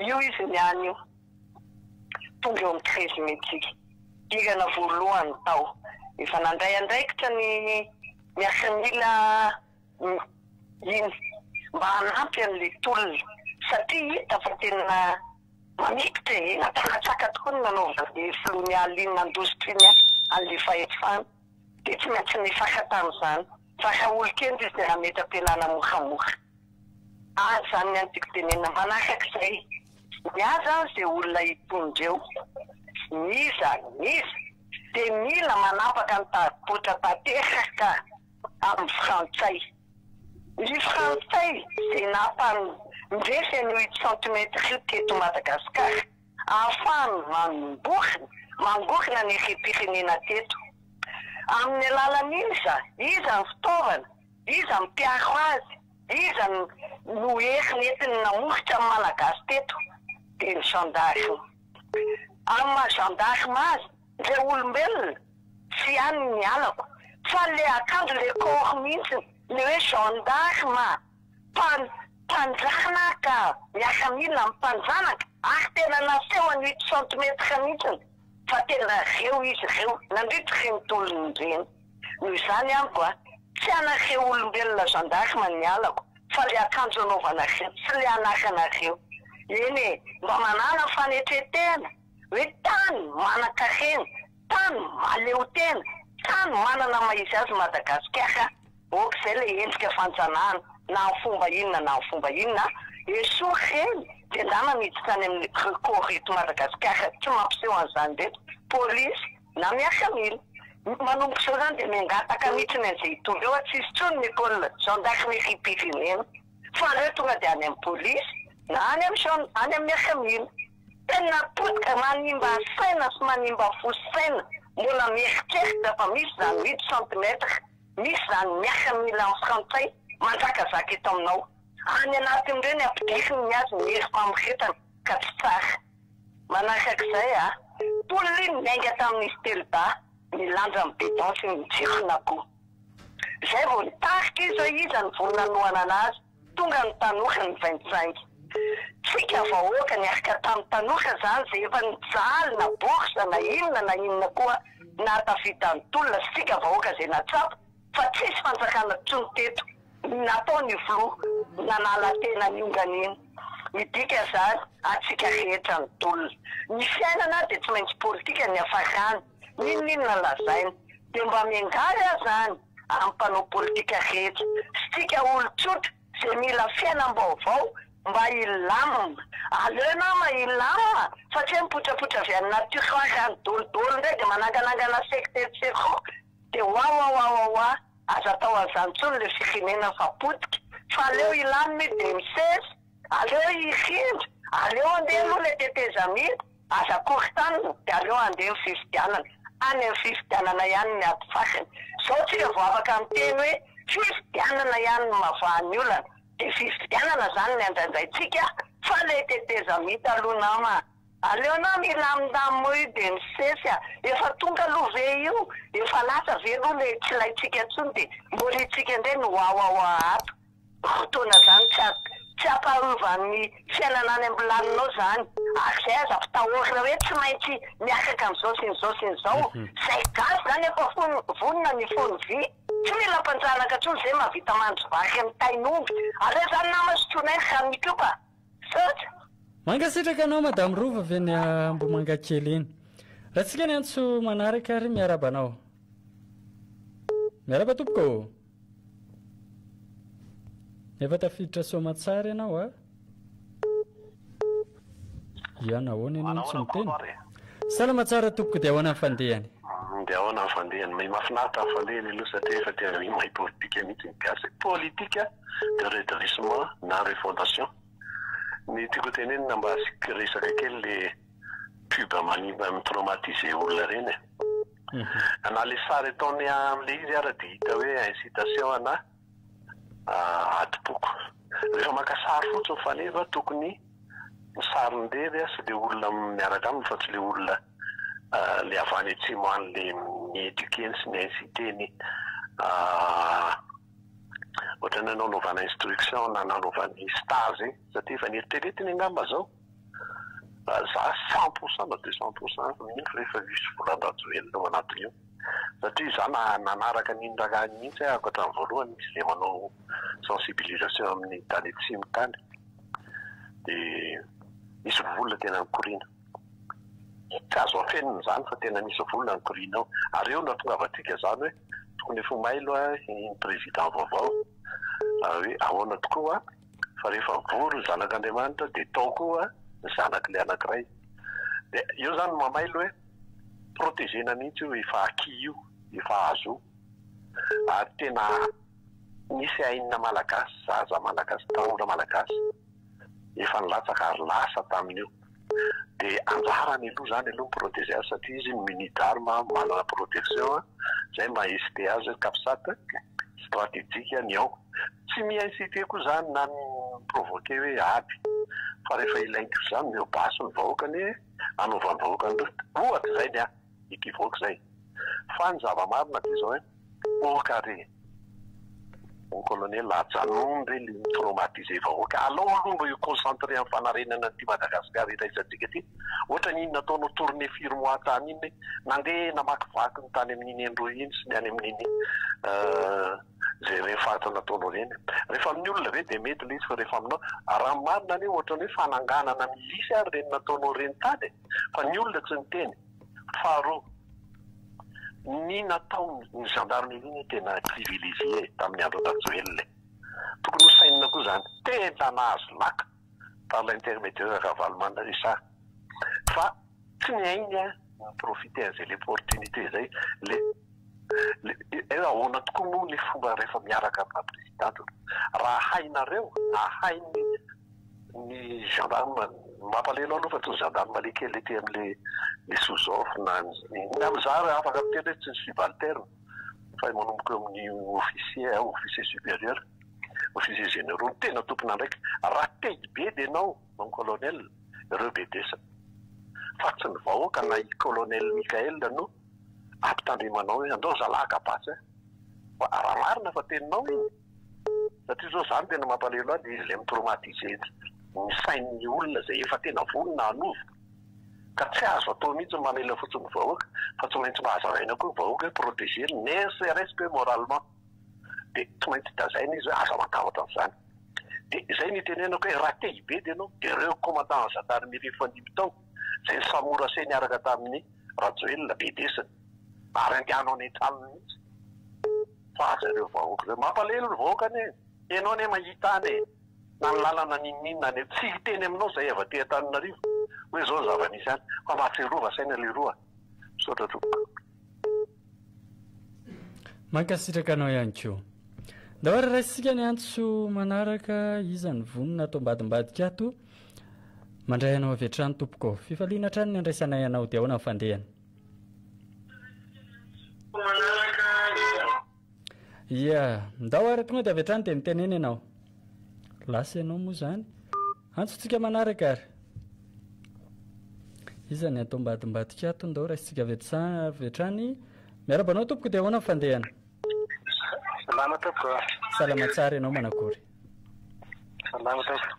Io izy niany io. Tonga eo amin'ny treize mai-tsika. Hirana voalohany tao. Efa nandray andraikitra ny. Miaramila iny mba hanampy an'ilay tolona satria hita fa tena mamikitra e, nampakatsaka tokoa ny nanaovan'ny filohan'ny alinina indostria ny ahy an'ilay fahefana dia tsy maintsy nifaka tamin'izany fa raha olon-kendry izy dia nametra-pialana moramora aza izany ny antigo tenenina manaraka izay. Ny ahy zany ze olona hitondra eo n'iza n'iza de mila manapaka ny taribotra tanteraka amin'ny frantsay. Ny frantsay ze nampandresy an'io ito centimètre io teto Madagascar ahafahany mamborona, mangorona ny harem-pirenena teto. Amin'ny alalan'iza, iza ny fitaovana, iza mpiaro azy. Iza no hery nentiny namositra ny Malagasy teto dia ny zandary. Amin'ny maha zandary azy ndray olombelona tsy ihany ny alako fa ilay akanjo ilay corps mihitsy ilay hoe gendarme mpanjanaka miaramila amin'ny mpanjanaka ary tena naseho an'ito centimètre mihitsy fa tena reo izy reo nandritra ireny tolona ireny. Noho izany amiko a! Tsy anareo olombelona gendarmes ny halako fa le akanjo anaovanareo, tsy le anaranareo. Eny e! Mba manàna fanetren-tena hoe tany manan-karena, tany mahaleotena, tany manana ny maha izy azy Madagasikara ok zay le endrika fanjanahana na amin'ny fomba inona na amin'ny fomba inona esory ireny de ndana miditra any amin'ny recours eto Madagasikara tsy mampiseho an'izany reto police Na miasa mil. Manomboka izao izany dia miangataka mihitsy ny an'izay hitory eo a, tsy hisy intsony ny pôle gendarme iraim-pirenena fa aleo tonga dia any amin'ny pôlisy na any amin'ny gen, any amin'ny miasa mil. Tena potika, manimba saina sy manimba fo sy saina, mbola mieritreritra fa misy izany huit centimètre, misy izany miasa mil any frantsay manjakazaka eto aminao. Any anatin'ireny ampidiriny ny azy ny herim-pamoretana ka tsy tsara. Manakak'izay a! Tolly niainga tamin'ny Stelba milanja ny bidon sy ny jiron'akoho. Izay vao nitarika izy hoe iza ny vono nanohana anazy, tonga ny tanora nivaintsainga. Tsika vahoaka niarka tamin'ny tanora izany izay efa nijaly na bourse na inona na inona koa nahatafita an'i Tolly sy tsika vahoaka izay nahatsapa, fa tsisy fanjakana tsony teto natao ny filoha nanala tena niongana iny midika zany atsika rehetra ny tolona ny fiainana de tsy maintsy politika ny afakany ninoninona lazaina de mba miangavy aza any am panao politika rehetra sy tsika olo tsotra ze mila fiainam baovao mba hilamina aleo nama hilamina fa tsy hoe mipotrapotra avy any nature any dolo dolo ndray de mananganangana secte etc. de wawawawawa aza atao anzany tsony le firenena fa potika fa aleo ilany mi de misesy aleo hifindra aleo andeha aloha le tetezamita aza koritanina de aleo andeha ny fifidianana any am fifidianana ihany ny ady fakany zao tsika vo afaka miteny hoe fifidianana ihany no mavaha ny olana de fifidianana zany ny andraindraitsika fa le tetezamita aloha nama a. Aleo anao milamindamy moy de misesy a! Efa tonga aloha ve io? Efa lasa ve aloha le tsy ilaintsika tsony de moriantsika ndray ny wawawa ato? Fotoana zany tsy tsy ampaharovany fiainana any ambilaninao zany ary zay aza mpitahorina hoe tsy maintsy miakaka an'izao sy ny zao sy ny zao zay gasy zany efa fony vonona ny fony vy tsy mila mpanjanaka tsony zay mavita mandry vaky ny tain'omby aleo zany nama sotroinay ny ranon'ikopa Misaotra. Mankasitraka anao Madame Rova avy any Ambomangakely eny. Ratsika ny antso manaraka ary miaraba anao. Miaraba tompoko ô. Efa tafiditra soamatsara ianao a. Ianao ahoana ianao no tsy miteny? Salama tsara tompoko de ahoana ny fandehany. De ahoana ny fandehany may mafinaritra ny fandehany aloha satria efa tena ny may politika mihitsy ny gasy e politika de redressement na refondation ny tiako hotenenina mba asiako resaka kely le pub manimba mi traumatiser olona reny e na le sary ataony amle izy ara de hita hoe incitation ana adiboko. Rehefa maka sary fotsiny faneva tokony ny sarin'irery sy le olona miaraka aminy fa tsy le olona le avy any atsimo any le mi-eduquer-ny sy mi-inciter-ny ohatran'ny hoe nanaovana instruction na nanaovany stage satria efa neritreretiny angamba zao. Raha za cent pour cent na deux cent pour cent aza mino rehefa misy volan-dRajoelina ao anatin'io satria za nanaraka an'iny raharaha iny mihitsy aho hatramin'ny voalohany misy izay manao sensibilisation amin'ny tany atsimo tany de misy vola tena mikoriana tsy azo afenina izany fa tena misy vola mikoriana ao ary eo no hahatongavantsika izany hoe tokony efa ho mailo iny président vaovao hoe ahoana tokoa Fa rehefa vory ny zanak'Andriamanitra dia tao koa ny zanaky ilay anankiray. Dia eo izany no mamailo hoe protégena mihitsy io efa acquis io, efa azo io. Ary tena nisy ainina malagasy, zaza malagasy, tanora malagasy efa nilatsaka ary lasa tamin'io. Dia anjarany aloha zany aloha ny proteger azy satria izy ny muni d'arme manana protection zay maha hesiter azy ny capsat strategique ny ao. Tsy mi inciter koa zany na mi provoquer hoe ady fa rehefa ilain'ty zany mihoa basy ny vahoaka anie anaovan'ny vahoaka an'ireo ohatra izay ny ahy. equivoque zay. Fa ny zava-marina dia izao eh, au carré. Mon colonel ajanony re le mi traumatiser vahoaka, alao aloha mba hi concentrer am fanarenana an'ity Madagascar iraisantsika ity, ohatra ny iny nataonao tournée firy mois tany iny hoe nandeha namakivaky ny tany amin'iny Endroy iny sy ny any amin'iny ze rehefarefa nataonao ireny, rehefa amin'ny olona ve dia mety ilay izy fa rehefa aminao, raha ny marina anie ohatran'ny hoe fananganana milice ary ireny nataonao ireny tany eh. Fa ny olona tsy niteny. Faharoa, ny nataon'ny gendarmerie no tena privilégié tamin'ny andron'i Rajoelina e! Tokony ho sainina koa izany. Tena nahazo laka par l'intermédiaire de Ravalomanana ry sa. Fa tsy ny ainy an, mi-profiter an'izay le portunité izay, le, le, ahoana tokoa moa le fomba rehefa miaraka amin'ny maha presidente. Raha hainareo, raha hain'ny. Ny gendarme, ny mampalahelo aloha fa tsy ny gendarmerie kely ety amin'le ny sous-off na ny inona aby za raha afaka miteny hoe tsy ny subalterne fa ny manomboka eo amin'ny officier, officier supérieur, officier généraux, ny tena tompon'andraikitra. Raha te hibe dia ianao no colonel, ireo bedesany fa tsy ny vahoaka na i colonel Mickaël no ampitandremanao hoe andao zalahy ka basy a! fa raha marina fa teninao iny, Satria zao zany tena mampalelo ahy de izy le mi-traumatiser ny sain'ny olona zay efa tena vonona hanovo ka tsy azo atao mihitsy ny mamela fotsiny ny vahoaka fa tsy maintsy mba hazavaina koa ny vahoaka hoe proteger ne serait-ce que moralement de tsy maintsy dazaina izy hoe aza matahotra an'izany de zay ny itenenako hoe raha te-hibe de enao de reo commandant gendarmerie efa nibitao izay samorase niaraka tamin'i Rajoelina be desiny ary andehanao any an-tranony mihitsy fa aza ireo vahoaka ireo. Mampalahelo ny vahoaka anie e! Ianao anie mahita any e! Na ny lalana n'inon'inona any e! Tsy hiteny aminao izay avy aty Antananarivo hoe izao ny zava-misy any fa mahatsiarova saina leroa. Misaotra tompoko. Mankasitraka anao ihany koa. Ndao ary raisitsika ny antso manaraka iza ny vonona ato ambadimbadika ato. Mandray anao avy hatrany tompoko. Fifaliana hatrany ny andraisanay anao dia ahoana ny fandehany? Ia, ndao ary tonga dia avy hatrany dia mitenena ianao. Lasa ianao moa izany. Antsontsika manaraka ary. Iza ny atao mbady mbadika ato ndao raisintsika avy avy hatrany. Miarahaba anao tompoko dia ahoana ny fandehana? Salama tompoko. Salama tsara ianao manakory? Salama tompoko.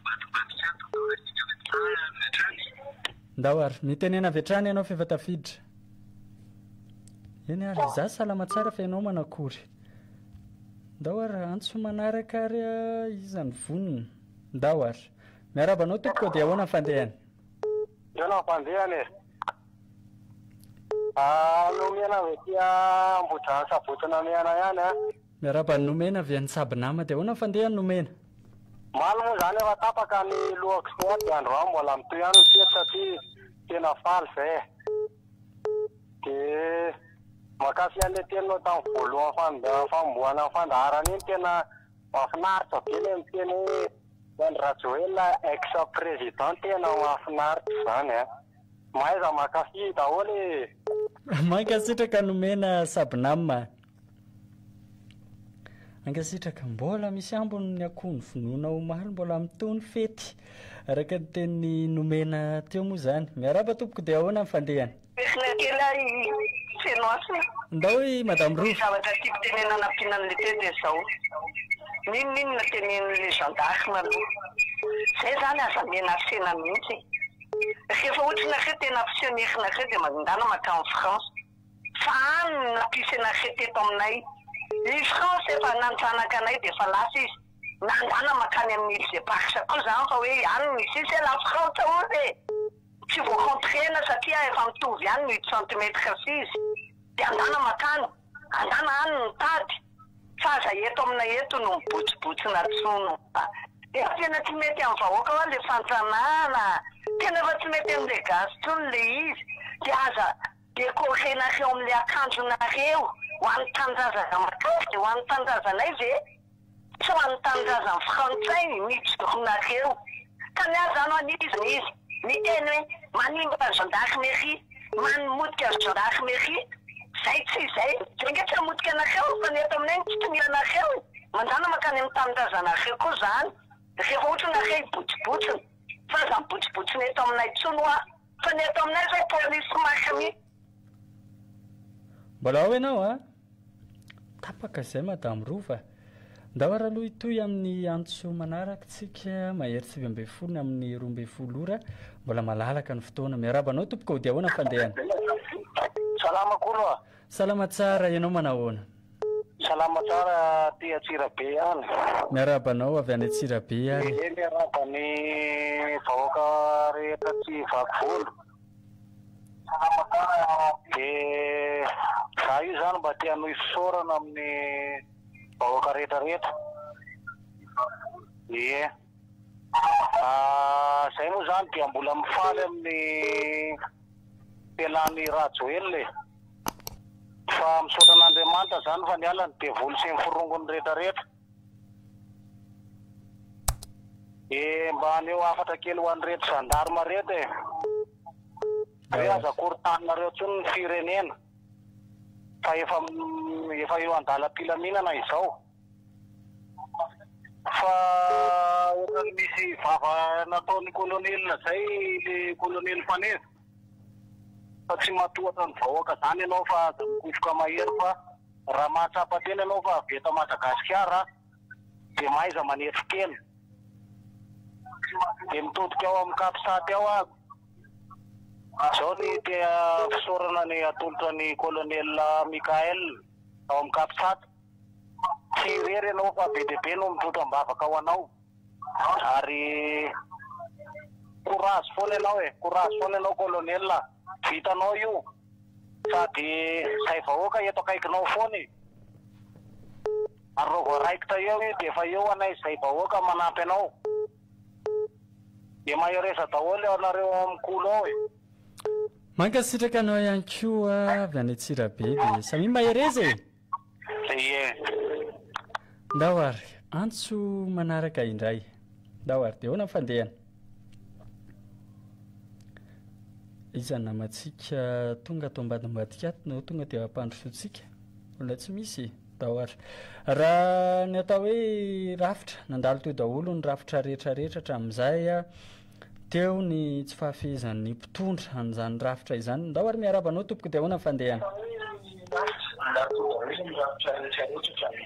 Ndao ary mitenena avy hatrany ianao f'efa tafiditra. Eny ary za salama tsara fa ianao manakory? Ndao ary antso manaraka ary iza ny vonona? Ndao ary. Miarahaba anao tompoko dia ahoana ny fandehany? Misaona ny fandehany e. Ah, nomena avy aty Ambohidrano Saboto Namehana ihany an. Miarahaba an'i Nomena avy any Saby Nama dia ahoana ny fandehany Nomena? Omaly moa izany efa tapaka ny lohako sy ny aty androany mbola mitohy ihany ny fety satria tena faly izay e. Dia mankafy an'ilay teninao tamin'ny voalohany fanombohana ny fandaharana iny tena Mafinaritra be le miteny hoe Andry Rajoelina ex président tena mafinaritra zany a! Mahaiza makafy daholo ee. Mankasitraka nomena Sabnam a. Mankasitraka. Mbola misy ambiny ny akoho ny vonoina omaly mbola mitohy ny fety araka ny tenin'i nomena teo moa zany. Miarahaba tompoko dia ahoana ny fandehany. Peshina kely aho i Fenoas e! Ndao i Madame Rova. Ny zavatra tiako tenenina anampiana an'le teo dia zao, n'inon'inona tenenin'le gendarme aloha zay zany aza menacena mihitsy e! Rehefa ohatry nareo tena mpiseho ny herinareo dia mandindàna mankany France fa any no nampisenareo teto aminay, i France efa nanjanaka anay dia efa lasa izy, nandàna mankany amin'ny Îles Eparses koa zany fa hoe any misy izy e! La France ozy e! Tsy voakontrena satria efa mitovy ihany ny centimètre sy izy dia andana makany, andana any ny tady fa aza eto aminay eto no mibotsibotsina tsono a! Efa tena tsy mety amin'ny vahoaka hoa le fantsanana a! Tena efa tsy mety amin'le gasy tsony le izy dia aza decorenareo amin'le akanjonareo ho an'ny tanindrazana makany dia ho an'ny tanindrazanay ve? Tsy ho an'ny tanindrazan'ny frantsay ny joronareo. Tany aza no aniziny izy. Miteny hoe manimba ny gendarmerie, manimotika ny gendarmerie. Zay tsy izay. Zay ange tsy hamotika anareo fa ny eto aminay no kitonianareo e. Mandana mankany amin'ny tanindrazanareo koa zany. Rehefa ohatra nareo hibotsibotsina. Tsy aza mibotsibotsina eto aminay tsony hoa. Fa ny eto aminay zao police marina mihitsy. Mbola ao ianao a! Tapaka izay Madame Rova. Ndao ary aloha hitohy amin'ny antso manaraka isika, mahery sivy ambin'ny folo ny amin'ny roa ambin'ny folo ora. Mbola malalaka ny fotoana. Miarahaba anao tompoko, dia ahoana ny fandehany? Salama kolo a! Salama tsara, ianao manao ahoana? Salama tsara aty Antsirabe ihany. Miarahaba anao avy any Antsirabe ary. Ehe, miarahaba ny vahoaka rehetra aty Vaky Volo. Dia za io zany mba te hanohy fisaorana amin'ny vahoaka rehetra rehetra, ie. Zay moa zany dia mbola mifaly amin'ny fialan'i Rajoelina e! Fa misaotra an'Andriamanitra zany fa nialany, devoly sy ny forongony rehetra rehetra. Eh mba aneo hafatra kely ho an'ireto gendarme reto eh. Ve aza korontaninareo intsony ny firenena fa efa efa eo an-dalam-pilaminana izao. Fa ohatran'ny misy vava nataon'ny kolonelina izay le kolonely Faneva. Fa tsy matohatra ny vahoaka izany ianao fa aza mikofoka mahery fa. Raha mahatsapa tena ianao fa avy eto Madagasikara dia mahaiza manetry tena. Dia mitodika ao amin'ny Capsat ao aby. Izao ny te-fisaorana ny atolotra an'i Colonel Michael ao amin'ny Capsat. Tsy irery ianao fa be dia be no mitrotra am-bavaka ho anao. Ary courage foana ianao e, courage foana ianao Colonel a. Vitanao io. Sady zay vahoaka eto akaikinao foana e! Ary raha vao raikitra eo io dia efa eo anay zay vahoaka manampy anao! Dia mahereza daholo ianareo ao amin'ny kolo ao e! Mankasitraka anao ihany koa avy any Antsirabe dia samia mahereza e! Ndao ary, antso manaraka indray. Ndao ary, dia ahoana ny fandehany? Iza ny namantsika tonga ato ambadimbadika ato no tonga dia hampandrosoantsika? Mbola tsy misy e! Ndao ary. Raha ny atao hoe rafitra, nandalo teo daholo ny rafitra rehetra rehetra hatramin'izay. Teo ny tsy fahafehezan'ny mpitondra an'izany rafitra izany. Ndao ary miarahaba anao tompoko dia ahoana ny fandehana?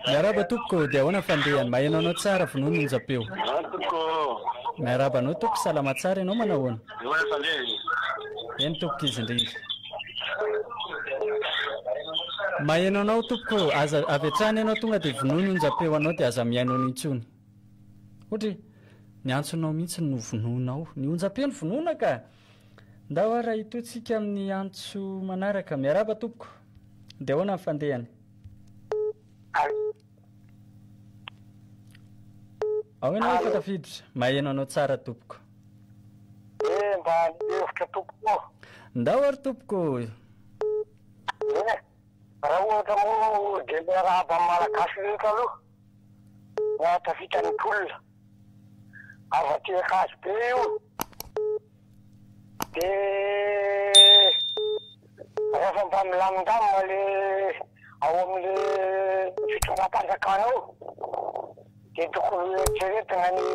Miarahaba tompoko dia ahoana ny fandehany? Maheno anao tsara vonono onjam-peo. Miarahaba anao tompoko salama tsara ianao manao ahoana? Eny tompoko izy indrindra. Maheno anao tompoko aza avy hatrany ianao tonga dia vonoy ny onjam-peo anao dia aza mihaino an'intsony. Ohatra hoe ny antsonao mihitsy no vonoinao. Ny onjam-peno vonoina ka! Ndao ary hahitoantsika amin'ny antso manaraka. Miarahaba tompoko. Dia ahoana ny fandehany? Ao ianao efa tafiditra. Maheno anao tsara tompoko. Eh, mba ny hevitra tompoko. Ndao ary tompoko. Eh, raha ohatra moa dia miarahaba amin'ny Malagasy rehetra aloha. Nahatafita ny mponina avy aty Ankazobe io de rehefa mba milamindamina le ao amle fitondram-panjakana ao de tokony hoeritreretina ny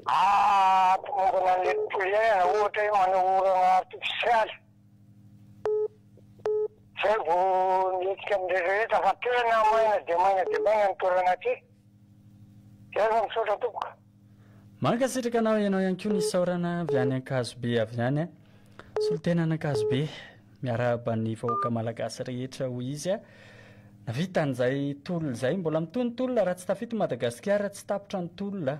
hampimombona anle tontolo iainana ohatra hoe manao orana artifisialy. Zay vao mihetsika amin'ireo rehetra fa tena maina dia maina dia maina ny toerana aty. Zay fa misaotra tompoko. Mankasitraka anao ianao ihany koa nisaorana avy any Ankazobe avy any a. Solontena an'Ankazobe miarahaba ny vahoaka malagasy rehetra hoy izy a. Navita an'izay tolona izay, mbola mitohy ny tolona raha tsy tafita i Madagasikara tsy tapitra ny tolona.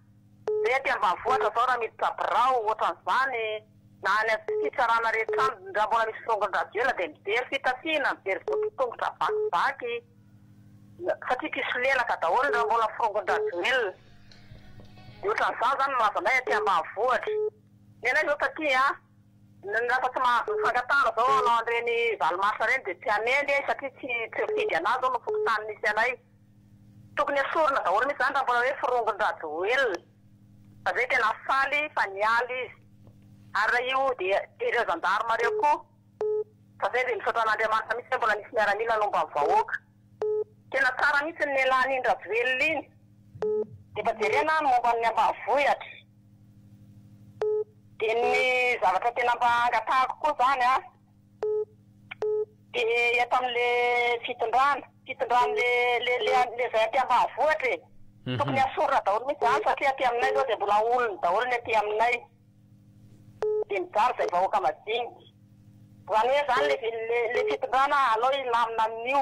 Mety ambanivohitra zao raha miditra birao ohatran'izany na any amin'ny fitsarana rehetra any raha mbola misy firongon-dravela dia mijery fitafiana, mijery voditongotra vakivaky satria mpisolelaka daholo ny raha mbola firongon-dRajoelina. Dia ohatran'izany izany no mahazo anay aty ambanivohitra. Ny anay izao taty an, ny lasa tsy mahazo mifangatahana izao hanao an'ireny valo mars ireny dia tsy hanendry e satria tsy tsy mifidy an'azy zao ny fokontany misy anay. Tokony esorina daholo mihitsy zany raha mbola hoe firongon-dRajoelina satria hoe tena faly fa niala izy ary raha io dia jereo gendarme reo koa fa zay dia misaotra an'Andriamanitra mihitsy hoe mbola nisy miaramila nomba ny vahoaka. Tena tsara mihitsy ny lelan'iny Rajoelina iny. Dia mba jerena ny momba ny ambanivohitra. Dia ny zavatra tena mba angatahako koa zany an. Dia eto amin'ilay fitondrana, fitondran'ilay le le izay aty ambanivohitra e. Tokony hasorina daholo mihitsy izany satria aty aminay izao dia mbola olony daholo ny aty aminay. Dia mijaly izay vahoaka madinika. Izany hoe izany ilay ilay ilay fitondrana aleo hilamina amin'io.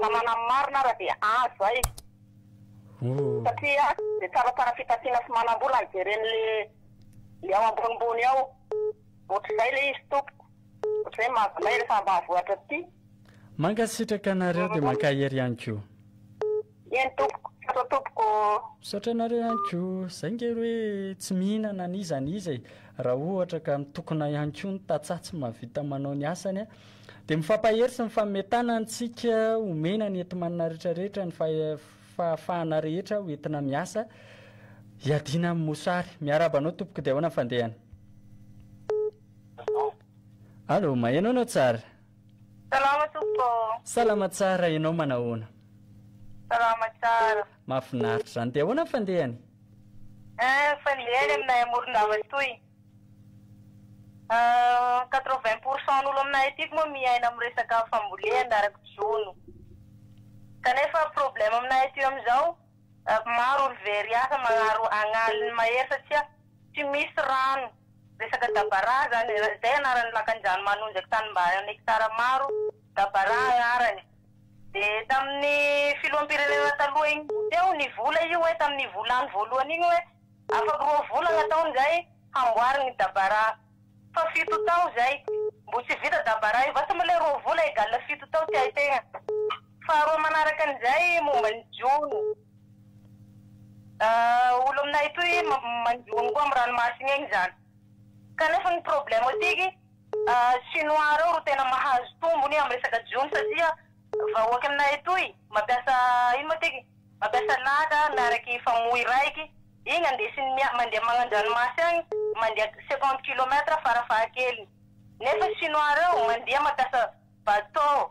Namana ny marina ara dia azo zay satria dia tsaratsara fitafiana sy manambola no jereny le le ao ambonimbony ao otrzay le izy tompoko otrzay mahavinay refa ambanivohitra aty. Mankasitraka anareo dia mankahery ihany koa. Eny tompoko, misaotra tompoko ô. Misaotra anareo ihany koa. Zay nge ry hoe tsy mihinana an'iza an'iza e! Raha ohatra ka mitokona ihany koa ny tantsaha tsy mahavita manao ny asany a! Dia mifampahery sy mifanome tana antsika omena ny enti-manana rehetra rehetra ny fahafahana rehetra ho entina miasa hiadiana amin'ny mosary. Miarahaba anao tompoko dia ahoana ny fandehany? Allo, maheno anao tsara. Salama tompoko ô. Salama tsara, ianao manahoana? Salama tsara. Mahafinaritra izany, dia ahoana ny fandehany? Eh, ny fandehany aminay à Morondava toy, eh, quatre vingt pour cent n'olo aminay aty moa miaina amin'ny resaka fambolena araka jono, kanefa problème aminay aty amin'izao, eh, maro olo very asa magnaro agn'aliny mahery satria tsy misy rano. Resaka Dabaraha zany, izay anarany lakanjany manonjaky tanimbary am hectare maro, Dabaraha anarany. De taminy filoham-pirenena taloha iny koa teo ny vola io hoe taminy volany voalohany iny hoe afaky roa volagna taony izay hamboarigny ny Dabaraha. Fa fito tao izay mbo tsy vita Dabaraha io, vasa moa le roa vola egal fito tao tiahitegna. Faharoa manaraka an'izay momba ny jono. Olo aminay atoy manjono koa am ranomasina egny zany kanefa ny problème atiky chinois reo ro tena mahazo tombony am resaka jono satria vahoaky aminay atoy mampiasa ino moa tiky mampiasa laka miaraky famoy raiky igny andesiny mia mandeha magnandranomasy agny mandeha cinquante kilomètre fara fahakeliny nefa chinois reo mandeha mampiasa bateau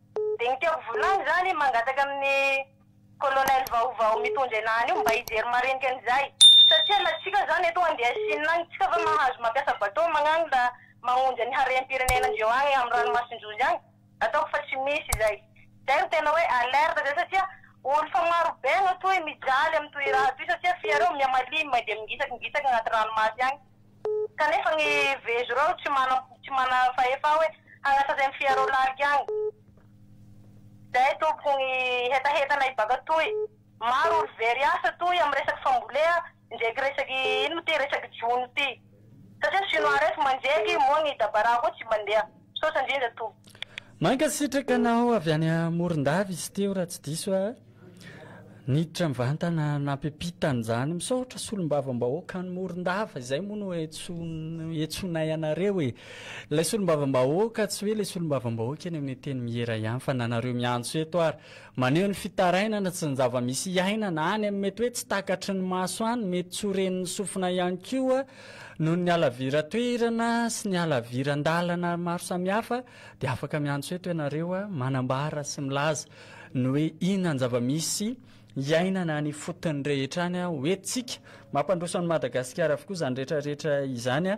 Dinika vola izany mangataka amin'ny colonel vaovao mitondra ena any io mba hijery marinika an'izay satria na tsika zany eto andeha Chine any tsika va mahazo mampiasa bateau magnangla magnonja ny harem-pirenena ndreo agny am ranomasin-jozy agny ataoko fa tsy misy izay zay ro tena hoe alerte zay satria olo fa maro be agnatoy mijaly am toy raha toy satria f'iareo miha malemy dia mingitsaky mingitsaky agnaty ranomasy agny Kanefa ny vezo reo tsy mana tsy mana fahefa hoe hagnasa zay mifia reo lalika agny. Zay tompoko gny hetahetanay ibaka toy. Maro olo very asa toy am resaky fambolea ndreky resaky ino ty resaky jono ty. Satria ny chinois reto mandreky moa gny dabara koa tsy mandeha. Misaotra indrindra tompoko. Mankasitraka anao avy any Morondava izy teo raha tsy diso aho. Niditra mivantana nampiampita an'izany. Misaotra solombavambahoaka any Morondava, izay moa no iantsoanay anareo e. Ilay solombavambahoaka tsy hoe ilay solombavambahoaka eny amin'ny Antenimiera ihany fa na nareo miantso eto ary maneho ny fitarainana sy ny zava-misy iainana any amin'ny mety hoe tsy takatry ny maso any, mety tsy ho ren'ny sofina ihany koa Noho ny halaviran-toerana sy ny halaviran-dalana maro samihafa dia afaka miantso eto ianareo manambara sy milaza ny hoe inona ny zava-misy iainana any ifotony rehetra any ho entintsika. Mampandroso an'i Madagasikara avokoa izany rehetrarehetra izany.